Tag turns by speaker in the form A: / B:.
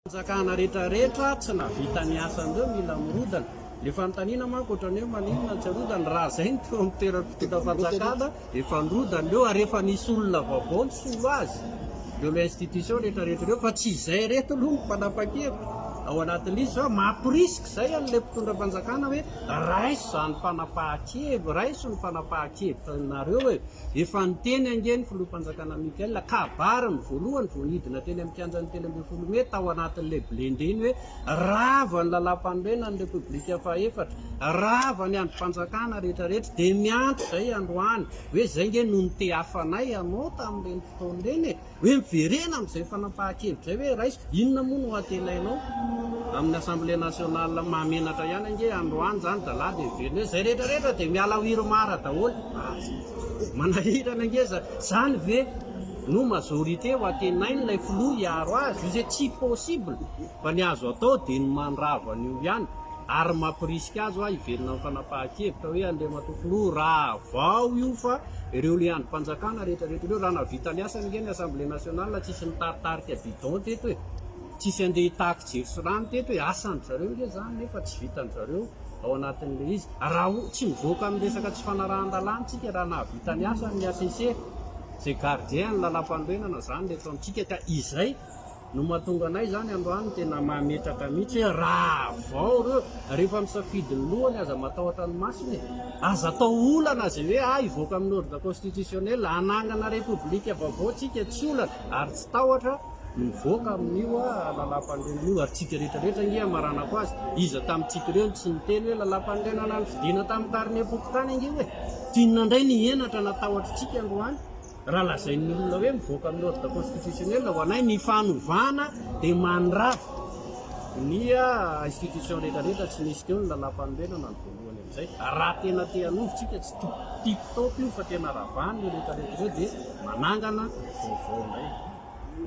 A: Fanjakana rehetra rehetra tsy nahavita ny asany ireo mila mirodana. Ilay fanontaniana manko ohatrany hoe maninona no tsy arodana raha izay no teo amin'ny toeran'ny mpitondra fanjakana efa nirodana ireo ary efa nisy olona vaovao nisolo azy teo amin'ireo institutions rehetra rehetra ireo fa tsy izay ireto aloha no mpanapa-kevitra ao anatin'izy fa mamporisika izay an'ilay mpitondra fanjakana hoe Raiso izany fanapahan-kevitra, raiso ny fanapahan-kevitranareo e! Efa niteny ange ny Filoham-panjakana Michael kabary ny voalohany vao nidina teny amin'ny kianjan'ny telo ambin'ny folo mey tao anatin'ilay blindé iny hoe rava ny Lalàmpanorenan'ny Repoblika fahaefatra, rava ny andrim-panjakana rehetrarehetra dia miandry izay androany hoe izay ange no nitehafanay anao tamin'ireny fotoana ireny e! Hoe miverena amin'izay fanapahan-kevitra izay hoe raiso, inona moa no antenainao amin'ny Assemblée nationale? Mahamenatra ihany ange androany izany zalahy dia miverina hoe izay rehetra rehetra dia miala ao Irmar daholo. Manahirana ange izany. Izany ve no majorité ho antenain'ilay filoha hiaro azy? Io izay tsy possible. Fa ny azo atao dia ny mandrava an'io ihany ary mampirisika azy hoa hiverina amin'ny fanapahan-kevitra hoe Andriamatoa Filoha rahavao io fa ireo leandrom-panjakana rehetrarehetra ireo raha nahavita ny asany ange ny Assemblée Nationale tsisy nitaritarika bidon teto e, tsisy andeha hitaky jiro sy rano teto e, asan-dry zareo ange izany nefa tsy vitan-dry zareo ao anatin'ilay izy raha tsy mivoaka amin'ny resaka tsy fanarahan-dalàna tsika raha nahavita ny asany ny HCC izay gardien ny lalam-panorenana izany eto amintsika ka izay No mahatonga anay izany androany tena mametraka mihitsy hoe rahavao ireo rehefa misafidy ny lohany aza matahotra ny masony e! Aza atao olana izay hoe ah hivoaka amin'ny ordre constitutionnel hanangana repoblika vaovao tsika tsy olana ary tsy tahotra mivoaka amin'io ah lalampanorenana io ary tsika rehetra rehetra ange hamaranako azy iza tamintsika ireo no tsy niteny hoe lalampanorenana nifidina tamin'ny carnet pokontany ange hoe tianona indray ny henatra na tahotra tsika androany Raha lazain'ny olona hoe mivoaka amin'ny ordre constitutionnel ho anay ny fanovana dia mandrava ny institutions rehetra rehetra tsy misy teo ny lalàmpanorenana ny voalohany amin'izay raha tena te hanovo tsika tsy tip top io fa tena ravana io rehetra rehetra ireo dia manangana vaovao indray